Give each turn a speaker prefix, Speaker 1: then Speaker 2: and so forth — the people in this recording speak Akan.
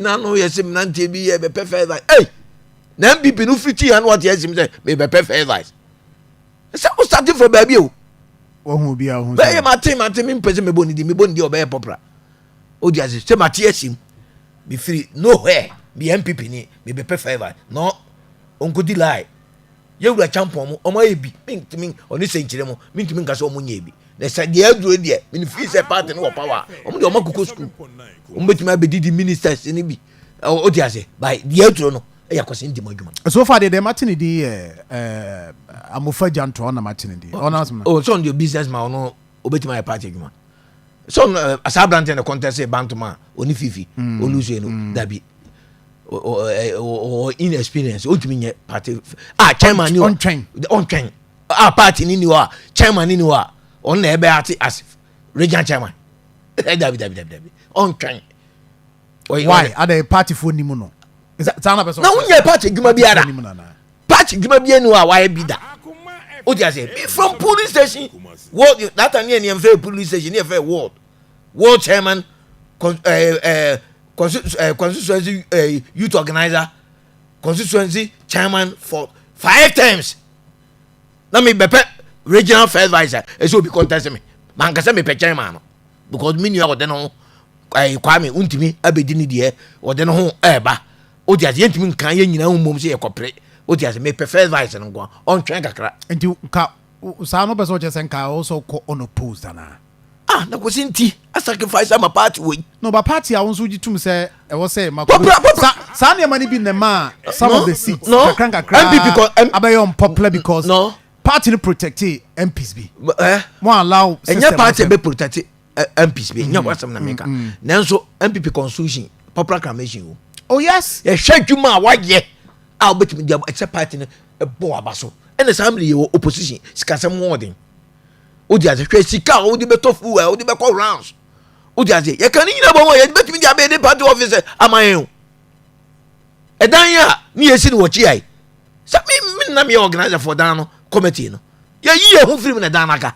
Speaker 1: na no yɛ sɛ mmeranteɛ bi yɛ bɛpɛ first vice ei na npp no firi ti ha no wate asim sɛ mebɛpɛ first vice ɛsɛ wo starte fɔ baabi o wahu obi a
Speaker 2: wohu bɛyɛ mate mate mempɛ
Speaker 1: sɛ mebɔ ne di mebɔ ne di ɔbɛyɛ pɔpra wode ase sɛ mate asim mefiri nowhere meyɛ npp ni mebɛpɛ first vice no ɔnkɔdi lie Yɛwura Kyampɔn mo, wɔn ayɛ bi. Mentumi, ɔne sɛnkyerɛ mu, mentumi nka sɛ wɔn nyɛ bi. Na sɛ deɛ aduro deɛ, mene fii sɛ party no wɔ power. Wɔn deɛ wɔn akokɔ school. Wɔn bɛtumi abɛdidi ministers no bi. O ti ase, by deɛ aduro no, ɛyɛ kɔsi nti mo adwuma. So far deɛ deɛ mate ne
Speaker 2: din yɛ Amofa Gyantoa na mate ne din. Ɔno asɛm no. Oh, so on deɛ
Speaker 1: business ma ɔno, obɛtumi ayɛ party adwuma. so saa aberanteɛ na contest banto ma ɔne fifi ɔluse mm. no mm. dabi ɔwɔ inexperience ɔntumi nyɛ party a chairman ni hɔ ɔntwɛn a party ni ni hɔ a chairman ni ni hɔ a ɔno na ɛbɛ ate as regional chairman dabi dabi dabi dabi ɔntwɛn
Speaker 2: why ada party fo ni mu no na wonyɛ party adwuma biara
Speaker 1: patch dwuma bi enu a wayɛ bi da o ti ase me from police station world that time yɛ nneɛma fɛ police station yɛ fɛ world world chairman ɛɛ ɛɛ constituency ɛɛ youth organizer constituency chairman for five times na mi bɛpɛ regional first vice a ɛsɛ obi contest mi mankasa mi pɛ chairman no because mi nua ɔde no ɛɛ kwame ntumi abedi ne deɛ ɔde no ho ɛɛba. o ti ase yɛn ntumi nkan yɛn nyinaa mmom sɛ yɛkɔpere o ti ase mepɛ first vice no nko ɔntwɛn kakra. nti nka
Speaker 2: saa no bɛ sɛ ɔkyɛ sɛ nka ɔwɔ sɛ ɔkɔ unopposed anaa. ah na kwasi
Speaker 1: nti a sacrifice ama party wei. na ɔba party a wɔn nso
Speaker 2: gye tum sɛ ɛwɔ sɛ ma kɔ sa saa nneɛma no bi na ɛma some no, of the seats no. kakra nkakra mpp kɔ
Speaker 1: m abɛyɛ unpopular
Speaker 2: because no. party no
Speaker 1: protectee
Speaker 2: mps bi eh. mo allow system ɛnyɛ party ɛbɛ protectee.
Speaker 1: mps bi nya wasɛm na meka nanso mpp constitution popular acclamation o oh yes yɛhwɛ
Speaker 2: adwuma a wayɛ
Speaker 1: a wobɛtumi de ɛkyɛ party no bɔ waba so ɛna saa mmere yɛwɔ opposition sikasɛm ho ɔden wode ase hwɛ sika a wode bɛtɔ fuel a wode bɛkɔ rounds wode ase yɛka ne nyina bɔ mu a yɛbɛtumi de abɛyɛ ne party office ama yɛn o ɛdan yɛ a ne yɛsi no wɔ kyeae sɛ menam yɛ organiser for dan no committee no yɛyi yɛ ho firim na dan no aka